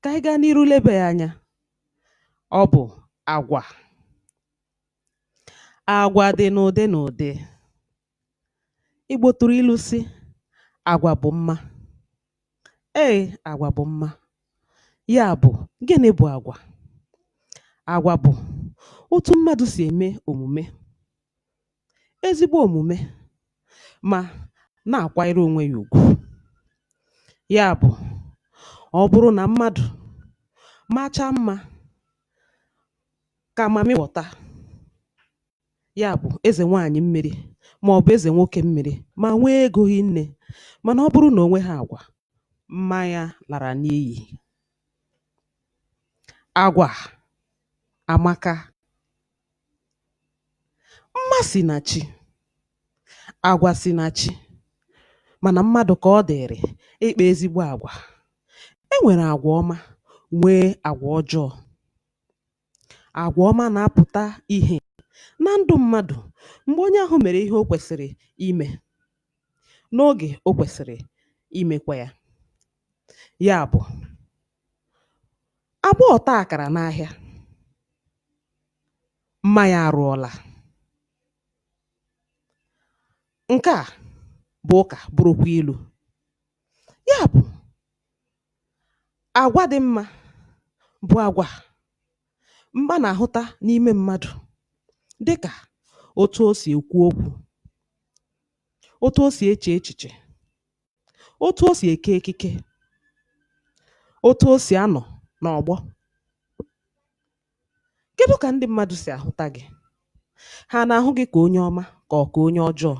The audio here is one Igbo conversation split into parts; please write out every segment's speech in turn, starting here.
Kà ànyị gaa n'iru lebà ya anya, ọ bụ̀ àgwà. Àgwà dị̀ n'ụ̀dị n'ụ̀dị. Igbò tụ̀rụ̀ ilu sị, àgwà bụ̀ mma. Eè, àgwà bụ̀ mma. Ya bụ̀, gịnị bụ̀ àgwà? Àgwà bụ̀ otu mmadụ̀ sì ème òmùme. ezigbo omume ma na-akwanyere onwe ya ugwu. Ya bụ, ọ bụrụ na mmadụ machaa mma ka mamịwọta, ya bụ eze nwaanyị mmiri maọbụ eze nwoke mmiri ma nwee ego hinne mana ọ bụrụ na o nweghị agwa, mma ya lara n'iyi. Agwa amaka. Mma si na chi, agwa si na chi mana mmadụ ka ọ dịrị ịkpa ezigbo agwa. E nwere agwa ọma nwee agwa ọjọọ. Agwa ọma na-apụta ihe na ndụ mmadụ mgbe onye ahụ mere ihe o kwesịrị ime n'oge o kwesịrị imekwa ya. Ya bụ, agbọọ taa akara n'ahịa mma ya arụọla. Nke a bụ ụka, bụrụkwa ilu. Ya bụ, agwa dị mma bụ agwa a na-ahụta n'ime mmadụ dị ka otu o si ekwu okwu, otu o si eche echiche, otu o si eke ekike, otu o si anọ n'ọgbọ. Kedụ ka ndị mmadụ si ahụta gị? Ha na-ahụ gị ka onye ọma ka ọ ka onye ọjọọ?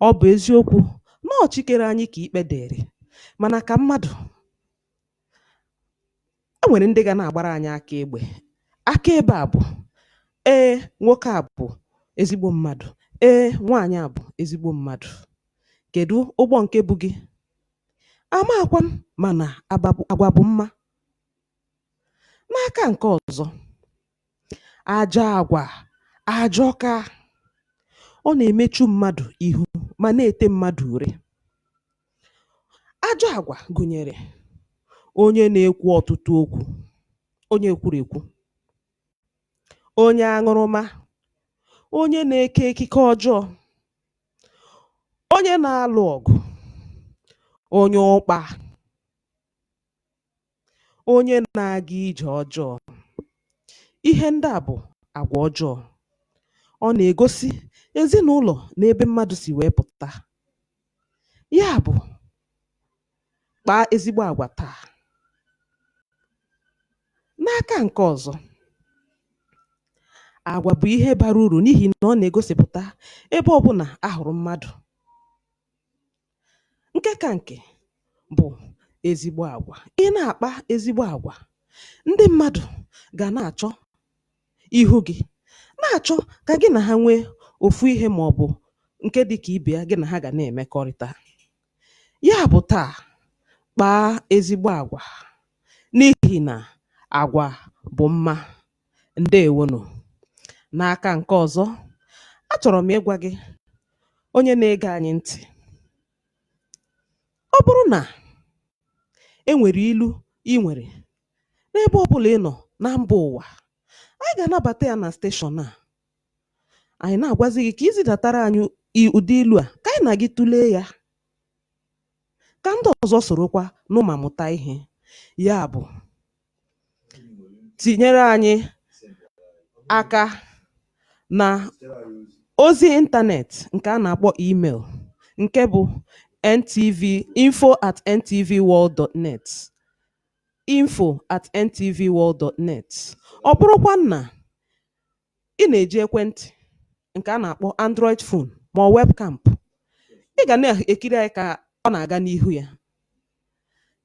Ọ bụ eziokwu na ọ Chi kere anyị ka ikpe dịrị, mana ka mmadụ, e nwere ndị ga na-agbara anyị aka ebe. Aka ebe a bụ, ee, nwoke a bụ ezigbo mmadụ, ee, nwaanyị a bụ ezigbo mmadụ. Kedụ ụgbọ nke bu gị? Amaghịkwa m mana agwa bụ mma. N'aka nke ọzọ, ajọ agwa ajọka. Ọ na-emechu mmadụ ihu ma na-ete mmadụ ure. Ajọ agwa gụnyere onye na-ekwu ọtụtụ okwu, onye ekwurekwu, onye aṅụrụma, onye na-eke ekike ọjọọ, onye na-alụ ọgụ, onye ụkpa. Onye na-aga ije ọjọọ. Ihe ndị a bụ agwa ọjọọ. Ọ na-egosi ezinụlọ na ebe mmadụ si wee pụta. Ya bụ, kpaa ezigbo agwa taa. N'aka nke ọzọ, agwa bụ ihe bara uru n'ihi na ọ na-egosipụta ebe ọbụla a hụrụ mmadụ. Nke ka nke bụ ezigbo agwa. Ị na-akpa ezigbo agwa, ndị mmadụ ga na-achọ ihu gị, na-achọ ka gị na ha nwee ofu ihe ma ọ bụ nke dị ka ibe ya gị na ha ga na-emekọrịta. Ya bụ taa, kpaa ezigbo agwa n'ihi na agwa bụ mma. Ǹdeèwo nụ̀. N'aka ǹke ọ̀zọ, a chọ̀rọ̀ m ịgwȧ gị onye na-ege anyị ntị̀, ọ bụrụ nà e nwèrè ilu i nwèrè n'ebe ọbụlà ị nọ̀ na mbȧ ụ̀wà, anyị gà-ànabàta yȧ nà station à, ànyị na-àgwazị gị kà i zidàtara anyị ụdị ilu̇ à kà anyị nà gị tụlee yȧ. ka ndị ọzọ sorokwa nụ ma mụta ihe. Ya bụ, tinyere anyị aka na ozi ịntanetị nke a na-akpọ email nke bụ ntv info at ntvworld.net info at ntvworld.net ọ bụrụkwa na ị na-eji ekwentị nke a na-akpọ Android phone ma ọ webcam, ị ga na-ekiri anyị ka ọ na-aga n'ihu ya.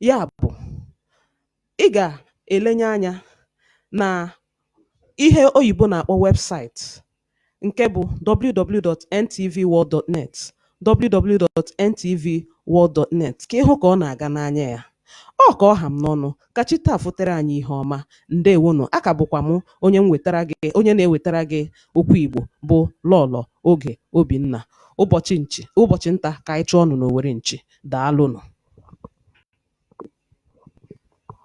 Ya bụ, ị ga-elenye anya na ihe oyibo na-akpọ website nke bụ www.ntvworld.net www.ntvworld.net ka ị hụ ka ọ na-aga n'anya ya ọ ka ọ ha m n'ọnụ ka chi taa fotere anyị ihe ọma ndewonụ a ka bụkwa m onye na-ewetara gị okwu Igbo bụ Lọlọ Oge Obinna ụbọchị nchi ụbọchị nta ka anyị chụọ ọnụ n'owere nchi daalụnụ